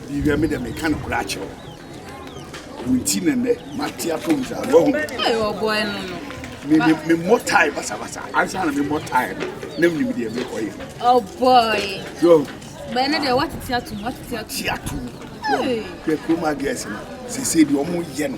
biribiara me dɛ meka no kora akyerɛ wo nti na nnɛ mate atom saa wahu memmɔ tae basabasa ansa na memmɔ tae no na menim deɛ mekɔyɛ bɛne deɛ woatete atom woatete atom kurom agɛs no sɛsei deɛ ɔmo yɛ no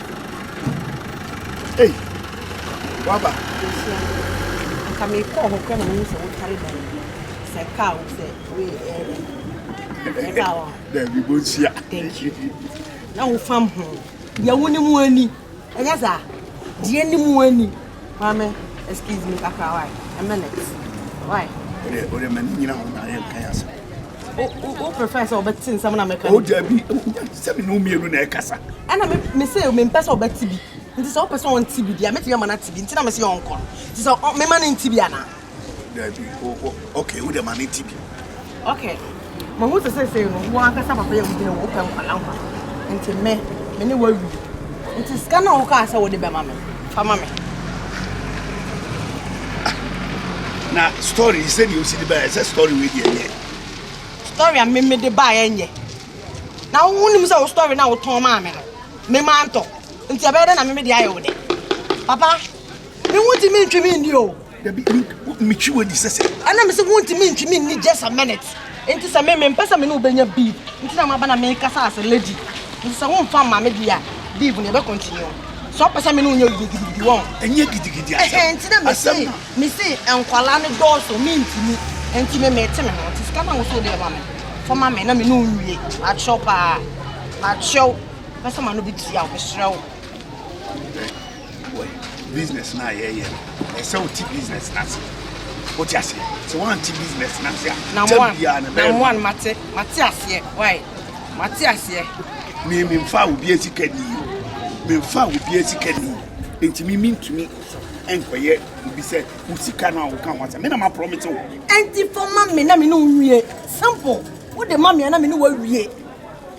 Ei, waba. Nhyira. Nka mekɔɔ hɔ kora na mehu sɛ wotare dan mu. Sɛ kaa wo sɛ we ɛɛdɛ. Ɛka wɔ. Dabi bɔ nhyia. Thank you. Na wo fam ho. Deɛ wo ne mu ani. Ɛnyɛ saa. Deɛ ne mu ani. Maame, excuse me kakra why? A minute. Why? Ode, ode mani nyina ho na ayɛ nkan asɛm. O prefer sɛ ɔbɛte nsɛm na meka. O dabi, sɛ me ne mmienu na ɛkasa. Ɛna me me sɛ me mpɛ sɛ ɔbɛte bi. Nti sɛ ɔpɛ sɛ ɔnte bi di a, mɛtumi ama no ate bi. Nti na me sɛ yɛ ɔnkɔ no. Nti sɛ mema no nte bi anaa? Dabi, o okay, wo dɛ ma no nte bi. Okay, mahu sɛ sɛsɛ no, wo ankasa papa yɛ wo gyina wo pɛ nkwala nkwa. Nti me, me ne wo awie. Enti sika no a wokaa sɛ wode bɛma me, fa ma me. Na story yi sɛdeɛ wosi de baeɛ sɛ story wei deɛ nyɛ. Story a meme de baeɛ nyɛ. Na wonim sɛ wo story no a wotɔn maa me no, mema ntɔ. Nti ɛbɛyɛ dɛ na meme de ayɛ wo dɛ. Papa, me ho ntumi ntwe me nni o. Dabi, me twi wadi sɛsɛ. Ɛna me se wo ntumi ntwi me nni just a minute. Nti sɛ me me mpɛ sɛ me ne wo bɛnya beef. Nti na maba na me kasa as a lady. Nti sɛ wo mfa mma me deɛ a, beef no yɛbɛ continue. Sɛ ɔpɛ sɛ me ne wo nyɛ gidigidi wɔn. Ɛnyɛ gidigidi asɛm. Ɛhɛn nti na me se me se nkwalaa no dɔɔso me ntumi. Nti me me te me ho. Nti sika na wo so wode ama me. Fa ma me na me ne wo nwie. Makyerɛw paa. Makyerɛw. Mɛsɛ ma no bɛ tua wo. Mesrɛ wo. wɔ business no a yɛyɛ no ɛsɛ wote business no ase wote ase sɛ woante business no ase a kyɛ biaa no bɛmoa no mate mate aseɛ wae mate aseɛ me memfa obi asika ni o memfa obi asika ni nti me mentumi nkɔyɛ obi sɛ wo sika no a woka ho asɛ me na maprɔmete wo ɛnti fa ma me na me ne wo wie simple wode ma me a na me ne woawie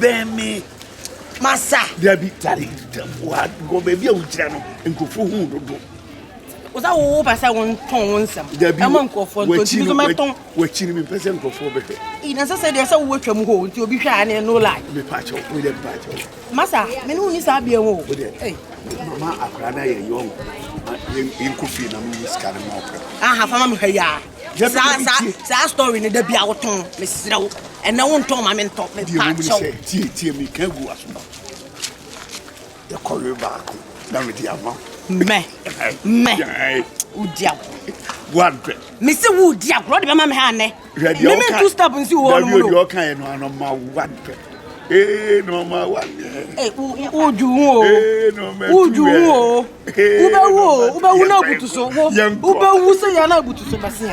bɛn me masa dabi tare wa wɔ baabi a wogyina no nkurɔfoɔ hu dodo wosa wowo pɛ sɛ wontɔn wo nsɛm ɛma nkurɔfoɔ ntɔntumi nso mɛtɔn wakyi no mempɛ sɛ nkurɔfoɔ bɛhwɛ ɛna sɛ sɛ deɛ sɛ wowatwa mu hɔ nti obi hwɛ a ne no lie mepakyɛw wodeɛ mepakyɛw masa me ne wo ni saa bia mu o mama akora no yɛ yɔnko yɛnkɔ fie na meyi sika no ma ɔpɛ aha fama mehwɛ yɛa saa saa saa story no da bi a wotɔn mesrɛ wo ɛnɛ wontɔn ma mentɔ mepakyɛw tie tie meka gu aso yɛkɔwe baako na mede ama mɛ mɛ wodi agorɔ woadɛ mese wodi agorɔ de bɛma me ha nnɛ meme two step nsi wɔ no mu no deɛ ɔkaeɛ no anɔma woadɛ ee nɔma woadɛ wodwu ho o wodwu ho o Wobɛwu o, wobɛwu na abutu so wo. Wobɛwu sɛ yɛ na abutu so bɛsea.